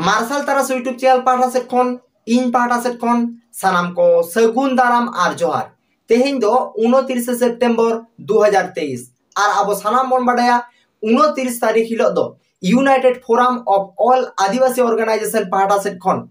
ᱢᱟᱨᱥᱟᱞ ᱛᱟᱨᱟᱥ YouTube channel ᱯᱟᱦᱴᱟ ᱥᱮᱫ ᱠᱷᱚᱱ ᱤᱧ ᱯᱟᱦᱴᱟ ᱥᱮᱫ ᱠᱷᱚᱱ ᱥᱟᱱᱟᱢ ᱠᱚ ᱥᱟᱹᱜᱩᱱ ᱫᱟᱨᱟᱢ ᱟᱨ ᱡᱚᱦᱟᱨ ᱛᱮᱦᱮᱧ ᱫᱚ ᱩᱱᱛᱤᱨᱤᱥᱮ ᱥᱮᱯᱴᱮᱢᱵᱚᱨ ᱫᱩ ᱦᱟᱡᱟᱨ ᱛᱮᱭᱤᱥ ᱟᱨ ᱟᱵᱚ ᱥᱟᱱᱟᱢ ᱵᱚᱱ ᱵᱟᱰᱟᱭᱟ ᱩᱱᱛᱤᱨᱤᱥ ᱛᱟᱹᱨᱤᱠᱷ ᱦᱤᱞᱳᱜ ᱫᱚ united forum of all Adivasi organisation ᱯᱟᱦᱴᱟ ᱥᱮᱫ ᱠᱷᱚᱱ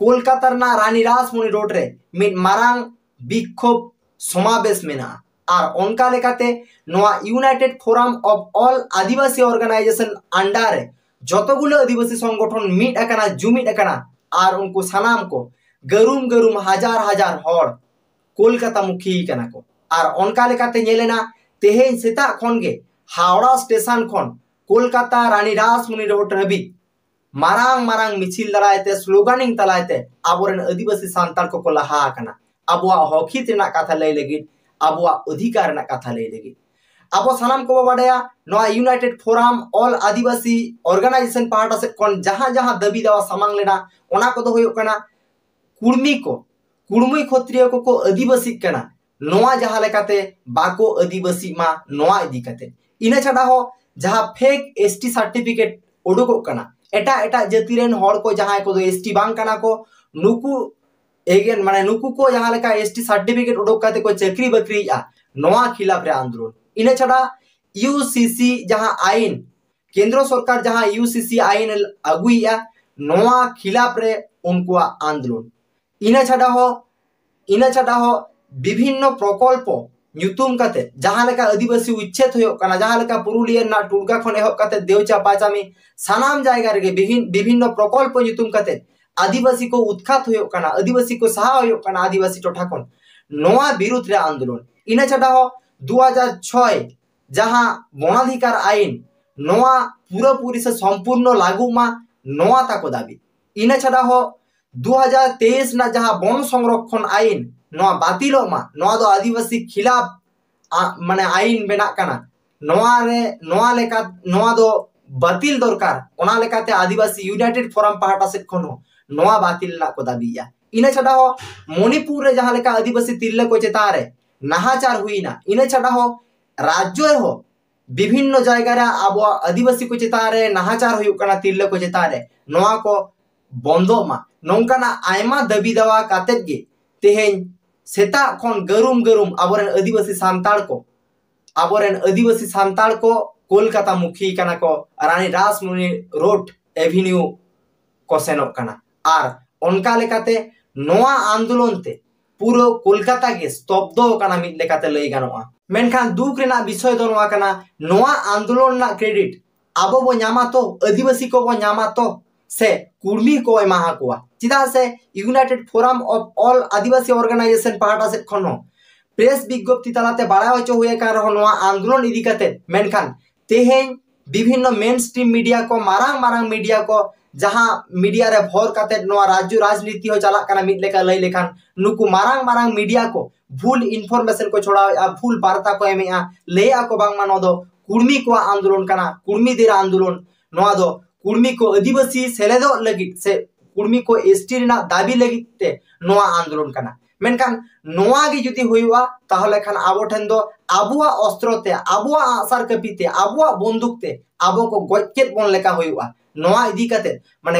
ᱠᱳᱞᱠᱟᱛᱟ ᱨᱮᱱᱟᱜ ᱨᱟᱱᱤ ᱨᱟᱥᱢᱩᱱᱤ ᱨᱳᱰ ᱨᱮ ᱢᱤᱫ ᱢᱟᱨᱟᱝ ᱵᱤᱠᱠᱷᱳᱵ ᱥᱚᱢᱟᱵᱮᱥ ᱢᱮᱱᱟᱜᱼᱟ ᱟᱨ ᱚᱱᱠᱟ ᱞᱮᱠᱟᱛᱮ ᱱᱚᱣᱟ united forum of all Adivasi organisation under ᱨᱮ ᱡᱚᱛᱚ ᱜᱩᱞᱟᱹ ᱟᱹᱫᱤᱵᱟᱹᱥᱤ ᱥᱚᱝᱜᱚᱴᱷᱚᱱ ᱢᱤᱫ ᱟᱠᱟᱱᱟ ᱡᱩᱢᱤᱫ ᱟᱠᱟᱱᱟ ᱟᱨ ᱩᱱᱠᱩ ᱥᱟᱱᱟᱢ ᱠᱚ ᱜᱟᱹᱨᱩᱢ ᱜᱟᱹᱨᱩᱢ ᱦᱟᱡᱟᱨ ᱦᱟᱡᱟᱨ ᱦᱚᱲ ᱠᱳᱞᱠᱟᱛᱟ ᱢᱩᱠᱷᱤ ᱠᱟᱱᱟ ᱠᱚ ᱟᱨ ᱚᱱᱠᱟ ᱞᱮᱠᱟᱛᱮ ᱧᱮᱞᱮᱱᱟ ᱛᱮᱦᱮᱧ ᱥᱮᱛᱟᱜ ᱠᱷᱚᱱ ᱜᱮ ᱦᱟᱣᱲᱟ ᱥᱴᱮᱥᱚᱱ ᱠᱷᱚᱱ ᱠᱳᱞᱠᱟᱛᱟ ᱨᱟᱱᱤ ᱨᱟᱥᱢᱩᱱᱤ ᱨᱳᱰ ᱦᱟᱹᱵᱤᱡ ᱢᱟᱨᱟᱝ ᱢᱟᱨᱟᱝ ᱢᱤᱪᱷᱤᱞ ᱫᱟᱨᱟᱭᱛᱮ ᱥᱞᱳᱜᱟᱱᱤᱝ ᱛᱟᱞᱟᱭᱛᱮ ᱟᱵᱚᱨᱮᱱ ᱟᱹᱫᱤᱵᱟᱹᱥᱤ ᱥᱟᱱᱛᱟᱲ ᱠᱚᱠᱚ ᱞᱟᱦᱟ ᱟᱠᱟᱱᱟ ᱟᱵᱚᱣᱟᱜ ᱦᱚᱠ ᱦᱤᱛ ᱨᱮᱱᱟᱜ ᱠᱟᱛᱷᱟ ᱞᱟᱹᱭ ᱞᱟᱹᱜᱤᱫ ᱟᱵᱚᱣᱟᱜ ᱚᱫᱷᱤᱠᱟᱨ ᱨᱮᱱᱟᱜ ᱠᱟᱛᱷᱟ ᱞᱟᱹᱭ ᱞᱟᱹᱜᱤᱫ ᱟᱵᱚ ᱥᱟᱱᱟᱢ ᱠᱚᱵᱚ ᱵᱟᱰᱟᱭᱟ ᱱᱚᱣᱟ united forum all Adivasi organisation ᱯᱟᱦᱴᱟ ᱥᱮᱫ ᱠᱷᱚᱱ ᱡᱟᱦᱟᱸ ᱡᱟᱦᱟᱸ ᱫᱟᱹᱵᱤ ᱫᱟᱣᱟ ᱥᱟᱢᱟᱝ ᱞᱮᱱᱟ ᱚᱱᱟ ᱠᱚᱫᱚ ᱦᱩᱭᱩᱜ ᱠᱟᱱᱟ ᱠᱩᱲᱢᱤ ᱠᱚ ᱠᱩᱲᱢᱤ ᱠᱷᱚᱛᱨᱤᱭᱚ ᱠᱚᱠᱚ ᱟᱹᱫᱤᱵᱟᱹᱥᱤᱜ ᱠᱟᱱᱟ ᱱᱚᱣᱟ ᱡᱟᱦᱟᱸ ᱞᱮᱠᱟᱛᱮ ᱵᱟᱠᱚ ᱟᱹᱫᱤᱵᱟᱹᱥᱤᱜ ᱢᱟ ᱱᱚᱣᱟ ᱤᱫᱤ ᱠᱟᱛᱮ ᱤᱱᱟᱹ ᱪᱷᱟᱰᱟ ᱦᱚᱸ ᱡᱟᱦᱟᱸ ᱯᱷᱮᱠ ᱮᱥ ᱴᱤ ᱥᱟᱨᱴᱤᱯᱷᱤᱠᱮᱴ ᱩᱰᱩᱠᱚᱜ ᱠᱟᱱᱟ ᱮᱴᱟᱜ ᱮᱴᱟᱜ ᱡᱟᱹᱛᱤ ᱨᱮᱱ ᱦᱚᱲ ᱠᱚ ᱡᱟᱦᱟᱸᱭ ᱠᱚᱫᱚ ᱮᱥ ᱴᱤ ᱵᱟᱝ ᱠᱟᱱᱟ ᱠᱚ ᱱᱩᱠᱩ ᱮᱜᱮᱱ ᱢᱟᱱᱮ ᱱᱩᱠᱩ ᱠᱚ ᱡᱟᱦᱟᱸ ᱞᱮᱠᱟ ᱮᱥ ᱴᱤ ᱥᱟᱨᱴᱤᱯᱷᱤᱠᱮᱴ ᱩᱰᱩᱠ ᱠᱟᱛᱮ ᱠᱚ ᱪᱟᱹᱠᱨᱤ ᱵᱟᱹᱠᱨᱤᱭᱮᱫᱼᱟ ᱱᱚᱣᱟ ᱠᱷᱤᱞᱟᱯ ᱨᱮ ᱟᱱᱫᱳᱞᱚᱱ ᱤᱱᱟᱹ ᱪᱷᱟᱰᱟ ᱤᱭᱩ ᱥᱤ ᱥᱤ ᱡᱟᱦᱟᱸ ᱟᱭᱤᱱ ᱠᱮᱱᱫᱨᱚ ᱥᱚᱨᱠᱟᱨ ᱡᱟᱦᱟᱸ ᱤᱭᱩ ᱥᱤ ᱥᱤ ᱟᱭᱤᱱ ᱟᱹᱜᱩᱭᱮᱫᱼᱟ ᱱᱚᱣᱟ ᱠᱷᱤᱞᱟᱯ ᱨᱮ ᱩᱱᱠᱩᱣᱟᱜ ᱟᱱᱫᱳᱞᱚᱱ ᱤᱱᱟᱹ ᱪᱷᱟᱰᱟ ᱦᱚᱸ ᱤᱱᱟᱹ ᱪᱷᱟᱰᱟ ᱦᱚᱸ ᱵᱤᱵᱷᱤᱱᱱᱚ ᱯᱨᱚᱠᱚᱞᱯᱚ ᱧᱩᱛᱩᱢ ᱠᱟᱛᱮ ᱡᱟᱦᱟᱸ ᱞᱮᱠᱟ ᱟᱹᱫᱤᱵᱟᱹᱥᱤ ᱩᱪᱪᱷᱮᱫ ᱦᱩᱭᱩᱜ ᱠᱟᱱᱟ ᱡᱟᱦᱟᱸ ᱞᱮᱠᱟ ᱯᱩᱨᱩᱞᱤᱭᱟᱹ ᱨᱮᱱᱟᱜ ᱴᱩᱰᱜᱟ ᱠᱷᱚᱱ ᱮᱦᱚᱵ ᱠᱟᱛᱮ ᱫᱮᱣᱪᱟ ᱯᱟᱪᱟᱢᱤ ᱥᱟᱱᱟᱢ ᱡᱟᱭᱜᱟ ᱨᱮᱜᱮ ᱵᱤᱵᱷᱤᱱᱱᱚ ᱯᱨᱚᱠᱚᱞᱯᱚ ᱧᱩᱛᱩᱢ ᱠᱟᱛᱮ ᱟᱹᱫᱤᱵᱟᱹᱥᱤ ᱠᱚ ᱩᱛᱠᱷᱟᱛ ᱦᱩᱭᱩᱜ ᱠᱟᱱᱟ ᱟᱹᱫᱤᱵᱟᱹᱥᱤ ᱠᱚ ᱥᱟᱦᱟ ᱦᱩᱭᱩᱜ ᱠᱟᱱᱟ ᱟᱹᱫᱤᱵᱟᱹᱥᱤ ᱴᱚᱴᱷᱟ ᱠᱷᱚᱱ ᱱᱚᱣᱟ ᱵᱤᱨᱩᱫ ᱨᱮ ᱟᱱᱫᱳᱞᱚᱱ ᱤᱱᱟᱹ ᱪᱷᱟᱰᱟ ᱦᱚᱸ ᱫᱩ ᱦᱟᱡᱟᱨ ᱪᱷᱚᱭ ᱡᱟᱦᱟᱸ ᱜᱚᱱᱟᱫᱷᱤᱠᱟᱨ ᱟᱭᱤᱱ ᱱᱚᱣᱟ ᱯᱩᱨᱟᱹ ᱯᱩᱨᱤ ᱥᱮ ᱥᱚᱢᱯᱩᱨᱱᱚ ᱞᱟᱹᱜᱩᱜ ᱢᱟ ᱱᱚᱣᱟ ᱛᱟᱠᱚ ᱫᱟᱹᱵᱤ ᱤᱱᱟᱹ ᱪᱷᱟᱰᱟ ᱦᱚᱸ ᱫᱩ ᱦᱟᱡᱟᱨ ᱛᱮᱭᱤᱥ ᱨᱮᱱᱟᱜ ᱡᱟᱦᱟᱸ ᱵᱚᱱ ᱥᱚᱝᱨᱚᱠᱷᱚᱱ ᱟᱭᱤᱱ ᱱᱚᱣᱟ ᱵᱟᱹᱛᱤᱞᱚᱜ ᱢᱟ ᱱᱚᱣᱟ ᱫᱚ ᱟᱹᱫᱤᱵᱟᱹᱥᱤ ᱠᱷᱤᱞᱟᱯ ᱢᱟᱱᱮ ᱟᱭᱤᱱ ᱵᱮᱱᱟᱜ ᱠᱟᱱᱟ ᱱᱚᱣᱟ ᱨᱮ ᱱᱚᱣᱟ ᱞᱮᱠᱟ ᱱᱚᱣᱟ ᱫᱚ ᱵᱟᱹᱛᱤᱞ ᱫᱚᱨᱠᱟᱨ ᱚᱱᱟ ᱞᱮᱠᱟᱛᱮ ᱟᱹᱫᱤᱵᱟᱹᱥᱤ ᱭᱩᱱᱟᱭᱴᱮᱰ ᱯᱷᱚᱨᱟᱢ ᱯᱟᱦᱴᱟ ᱥᱮᱫ ᱠᱷᱚᱱ ᱦᱚᱸ ᱱᱚᱣᱟ ᱵᱟᱹᱛᱤᱞ ᱨᱮᱱᱟᱜ ᱠᱚ ᱫᱟᱹᱵᱤᱭᱮᱜᱼᱟ ᱤᱱᱟᱹ ᱪᱷᱟᱰᱟ ᱦᱚᱸ ᱢᱚᱱᱤᱯᱩᱨ ᱨᱮ ᱡᱟᱦᱟᱸ ᱞᱮᱠᱟ ᱟᱹᱫᱤᱵᱟᱹᱥᱤ ᱛᱤᱨᱞᱟᱹ ᱠᱚ ᱪᱮᱛᱟᱱ ᱨᱮ ᱱᱟᱦᱟᱪᱟᱨ ᱦᱩᱭᱱᱟ ᱤᱱᱟᱹ ᱪᱷᱟᱰᱟ ᱦᱚᱸ ᱨᱟᱡᱽᱡᱚ ᱨᱮᱦᱚᱸ ᱵᱤᱵᱷᱤᱱᱱᱚ ᱡᱟᱭᱜᱟ ᱨᱮ ᱟᱵᱚᱣᱟᱜ ᱟᱹᱫᱤᱵᱟᱹᱥᱤ ᱠᱚ ᱪᱮᱛᱟᱱ ᱨᱮ ᱱᱟᱦᱟᱪᱟᱨ ᱦᱩᱭᱩᱜ ᱠᱟᱱᱟ ᱛᱤᱨᱞᱟᱹ ᱠᱚ ᱪᱮᱛᱟᱱ ᱨᱮ ᱱᱚᱣᱟ ᱠᱚ ᱵᱚᱱᱫᱚᱜ ᱢᱟ ᱱᱚᱝᱠᱟᱱᱟᱜ ᱟᱭᱢᱟ ᱫᱟᱹᱵᱤ ᱫᱟᱣᱟ ᱠᱟᱛᱮᱫ ᱜᱮ ᱛᱮᱦᱮᱧ ᱥᱮᱛᱟᱜ ᱠᱷᱚᱱ ᱜᱟᱹᱨᱩᱢ ᱜᱟᱹᱨᱩᱢ ᱟᱵᱚᱨᱮᱱ ᱟᱹᱫᱤᱵᱟᱹᱥᱤ ᱥᱟᱱᱛᱟᱲ ᱠᱚ ᱟᱵᱚᱨᱮᱱ ᱟᱹᱫᱤᱵᱟᱹᱥᱤ ᱥᱟᱱᱛᱟᱲ ᱠᱚ ᱠᱳᱞᱠᱟᱛᱟ ᱢᱩᱠᱷᱤ ᱠᱟᱱᱟ ᱠᱚ ᱨᱟᱱᱤ ᱨᱟᱥᱢᱩᱱᱤ ᱨᱳᱰ ᱮᱵᱷᱤᱱᱤᱭᱩ ᱠᱚ ᱥᱮᱱᱚᱜ ᱠᱟᱱᱟ ᱟᱨ ᱚᱱᱠᱟ ᱞᱮᱠᱟᱛᱮ ᱱᱚᱣᱟ ᱟᱱᱫᱳᱞᱚᱱ ᱛᱮ ᱯᱩᱨᱟᱹ ᱠᱳᱞᱠᱟᱛᱟ ᱜᱮ ᱥᱛᱚᱵᱫᱚ ᱠᱟᱱᱟ ᱢᱤᱫ ᱞᱮᱠᱟᱛᱮ ᱞᱟᱹᱭ ᱜᱟᱱᱚᱜᱼᱟ ᱢᱮᱱᱠᱷᱟᱱ ᱫᱩᱠ ᱨᱮᱱᱟᱜ ᱵᱤᱥᱚᱭ ᱫᱚ ᱱᱚᱣᱟ ᱠᱟᱱᱟ ᱱᱚᱣᱟ ᱟᱱᱫᱳᱞᱚᱱ ᱨᱮᱱᱟᱜ ᱠᱨᱮᱰᱤᱴ ᱟᱵᱚ ᱵᱚ ᱧᱟᱢᱟ ᱛᱚ ᱟᱹᱫᱤᱵᱟᱹᱥᱤ ᱠᱚᱵᱚ ᱧᱟᱢᱟ ᱛᱚ ᱥᱮ ᱠᱩᱲᱢᱤ ᱠᱚ ᱮᱢᱟ ᱟᱠᱚᱣᱟ ᱪᱮᱫᱟᱜ ᱥᱮ united forum of all Adivasi organisation ᱯᱟᱦᱴᱟ ᱥᱮᱫ ᱠᱷᱚᱱ ᱦᱚᱸ ᱯᱨᱮᱥ ᱵᱤᱜᱽᱜᱚᱯᱛᱤ ᱛᱟᱞᱟᱛᱮ ᱵᱟᱲᱟᱭ ᱦᱚᱪᱚ ᱦᱩᱭ ᱟᱠᱟᱱ ᱨᱮᱦᱚᱸ ᱱᱚᱣᱟ ᱟᱱᱫᱳᱞᱚᱱ ᱤᱫᱤ ᱠᱟᱛᱮ ᱢᱮᱱᱠᱷᱟᱱ ᱛᱮᱦᱮᱧ ᱵᱤᱵᱷᱤᱱᱱᱚ ᱢᱮᱱ ᱥᱴᱨᱤᱢ ᱢᱤᱰᱤᱭᱟ ᱠᱚ ᱢᱟᱨᱟᱝ ᱢᱟᱨᱟᱝ ᱢᱤᱰᱤᱭᱟ ᱠᱚ ᱡᱟᱦᱟᱸ ᱢᱤᱰᱤᱭᱟ ᱨᱮ ᱵᱷᱚᱨ ᱠᱟᱛᱮ ᱱᱚᱣᱟ ᱨᱟᱡᱽᱡᱚ ᱨᱟᱡᱽᱱᱤᱛᱤ ᱦᱚᱸ ᱪᱟᱞᱟᱜ ᱠᱟᱱᱟ ᱢᱤᱫ ᱞᱮᱠᱟ ᱞᱟᱹᱭ ᱞᱮᱠᱷᱟᱱ ᱱᱩᱠᱩ ᱢᱟᱨᱟᱝ ᱢᱟᱨᱟᱝ ᱢᱤᱰᱤᱭᱟ ᱠᱚ ᱵᱷᱩᱞ ᱤᱱᱯᱷᱚᱨᱢᱮᱥᱚᱱ ᱠᱚ ᱪᱷᱚᱲᱟᱣᱮᱫᱼᱟ ᱵᱷᱩᱞ ᱵᱟᱨᱛᱟ ᱠᱚ ᱮᱢᱮᱫᱼᱟ ᱞᱟᱹᱭᱮᱫᱼᱟ ᱠᱚ ᱵᱟᱝᱢᱟ ᱱᱚᱣᱟ ᱫᱚ ᱠᱩᱲᱢᱤ ᱠᱚᱣᱟᱜ ᱟᱱᱫᱳᱞᱚᱱ ᱠᱟᱱᱟ ᱠᱩᱲᱢᱤ ᱫᱮᱨ ᱟᱱᱫᱳᱞᱚᱱ ᱱᱚᱣᱟ ᱫᱚ ᱠᱩᱲᱢᱤ ᱠᱚ ᱟᱹᱫᱤᱵᱟᱹᱥᱤ ᱥᱮᱞᱮᱫᱚᱜ ᱞᱟᱹᱜᱤᱫ ᱥᱮ ᱠᱩᱲᱢᱤ ᱠᱚ ᱮᱥ ᱴᱤ ᱨᱮᱱᱟᱜ ᱫᱟᱹᱵᱤ ᱞᱟᱹᱜᱤᱫ ᱛᱮ ᱱᱚᱣᱟ ᱟᱱᱫᱳᱞᱚᱱ ᱠᱟᱱᱟ ᱢᱮᱱᱠᱷᱟᱱ ᱱᱚᱣᱟ ᱜᱮ ᱡᱩᱫᱤ ᱦᱩᱭᱩᱜᱼᱟ ᱛᱟᱦᱚᱞᱮ ᱠᱷᱟᱱ ᱟᱵᱚ ᱴᱷᱮᱱ ᱫᱚ ᱟᱵᱚᱣᱟᱜ ᱚᱥᱛᱨᱚ ᱛᱮ ᱟᱵᱚᱣᱟᱜ ᱟᱸᱜᱼᱥᱟᱨ ᱠᱟᱹᱯᱤ ᱛᱮ ᱟᱵᱚᱣᱟᱜ ᱵᱚᱱᱫᱩᱠ ᱛᱮ ᱟᱵᱚ ᱠᱚ ᱜᱚᱡ ᱠᱮᱫ ᱵᱚᱱ ᱞᱮᱠᱟ ᱦᱩᱭᱩᱜᱼᱟ ᱱᱚᱣᱟ ᱤᱫᱤ ᱠᱟᱛᱮ ᱢᱟᱱᱮ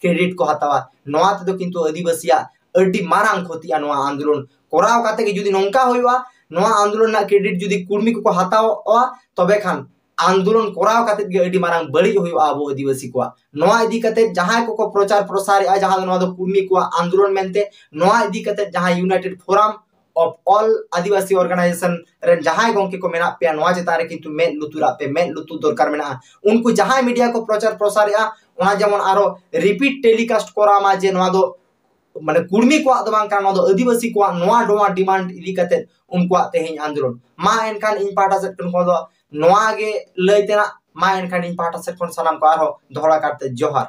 ᱠᱨᱮᱰᱤᱴ ᱠᱚ ᱦᱟᱛᱟᱣᱟ ᱱᱚᱣᱟ ᱛᱮᱫᱚ ᱠᱤᱱᱛᱩ ᱟᱹᱫᱤᱵᱟᱹᱥᱤᱭᱟᱜ ᱟᱹᱰᱤ ᱢᱟᱨᱟᱝ ᱠᱷᱚᱛᱤᱜᱼᱟ ᱱᱚᱣᱟ ᱟᱱᱫᱳᱞᱚᱱ ᱠᱚᱨᱟᱣ ᱠᱟᱛᱮ ᱜᱮ ᱡᱩᱫᱤ ᱱᱚᱝᱠᱟ ᱦᱩᱭᱩᱜᱼᱟ ᱱᱚᱣᱟ ᱟᱱᱫᱳᱞᱚᱱ ᱨᱮᱱᱟᱜ ᱠᱨᱮᱰᱤᱴ ᱡᱩᱫᱤ ᱠᱩᱲᱢᱤ ᱠᱚᱠᱚ ᱦᱟᱛᱟᱣᱟ ᱛᱚᱵᱮ ᱠᱷᱟᱱ ᱟᱱᱫᱳᱞᱚᱱ ᱠᱚᱨᱟᱣ ᱠᱟᱛᱮ ᱜᱮ ᱟᱹᱰᱤ ᱢᱟᱨᱟᱝ ᱵᱟᱹᱲᱤᱡ ᱦᱩᱭᱩᱜᱼᱟ ᱟᱵᱚ ᱟᱹᱫᱤᱵᱟᱹᱥᱤ ᱠᱚᱣᱟᱜ ᱱᱚᱣᱟ ᱤᱫᱤ ᱠᱟᱛᱮ ᱡᱟᱦᱟᱸᱭ ᱠᱚᱠᱚ ᱯᱨᱚᱪᱟᱨ ᱯᱨᱚᱥᱟᱨᱮᱜᱼᱟ ᱡᱟᱦᱟᱸ ᱫᱚ ᱱᱚᱣᱟ ᱫᱚ ᱠᱩᱲᱢᱤ ᱠᱚᱣᱟᱜ ᱟᱱᱫᱳᱞᱚᱱ ᱢᱮᱱᱛᱮ ᱱᱚᱣᱟ ᱤᱫᱤ ᱠᱟᱛᱮ ᱡᱟᱦᱟᱸᱭ united forum of all Adivasi organisation ᱨᱮᱱ ᱡᱟᱦᱟᱸᱭ ᱜᱚᱝᱠᱮ ᱠᱚ ᱢᱮᱱᱟᱜ ᱯᱮᱭᱟ ᱱᱚᱣᱟ ᱪᱮᱛᱟᱱ ᱨᱮ ᱠᱤᱱᱛᱩ ᱢᱮᱫ ᱞᱩᱛᱩᱨᱟᱜ ᱯᱮ ᱢᱮᱫ ᱞᱩᱛᱩᱨ ᱫᱚᱨᱠᱟᱨ ᱢᱮᱱᱟᱜᱼᱟ ᱩᱱᱠᱩ ᱡᱟᱦᱟᱸᱭ ᱢᱤᱰᱤᱭᱟ ᱠᱚ ᱯᱨᱚᱪᱟᱨ ᱯᱨᱚᱥᱟᱨᱮᱜᱼᱟ ᱚᱱᱟ ᱡᱮᱢᱚᱱ ᱟᱨᱚ ᱨᱤᱯᱤᱴ ᱴᱮᱞᱤᱠᱟᱥᱴ ᱠᱚᱨᱟᱣ ᱢᱟ ᱡᱮ ᱱᱚᱣᱟ ᱫᱚ ᱢᱟᱱᱮ ᱠᱩᱲᱢᱤ ᱠᱚᱣᱟᱜ ᱫᱚ ᱵᱟᱝ ᱠᱟᱱᱟ ᱱᱚᱣᱟ ᱫᱚ ᱟᱹᱫᱤᱵᱟᱹᱥᱤ ᱠᱚᱣᱟᱜ ᱱᱚᱣᱟ ᱱᱚᱣᱟ ᱰᱤᱢᱟᱱᱰ ᱤᱫᱤ ᱠᱟᱛᱮ ᱩᱱᱠᱩᱣᱟᱜ ᱛᱮᱦᱮᱧ ᱟᱱᱫᱳᱞᱚᱱ ᱢᱟ ᱮᱱᱠᱷᱟᱱ ᱤᱧ ᱯᱟᱦᱴᱟ ᱥᱮᱫ ᱠᱷᱚᱱ ᱫᱚ ᱱᱚᱣᱟ ᱜᱮ ᱞᱟᱹᱭ ᱛᱮᱱᱟᱜ ᱢᱟ ᱮᱱᱠᱷᱟᱱ ᱤᱧ ᱯᱟᱦᱴᱟ ᱥᱮᱫ ᱠᱷᱚᱱ ᱥᱟᱱᱟᱢ ᱠᱚ ᱟᱨᱦᱚᱸ ᱫᱚᱦᱲᱟ ᱠᱟᱨᱛᱮ ᱡᱚᱦᱟᱨ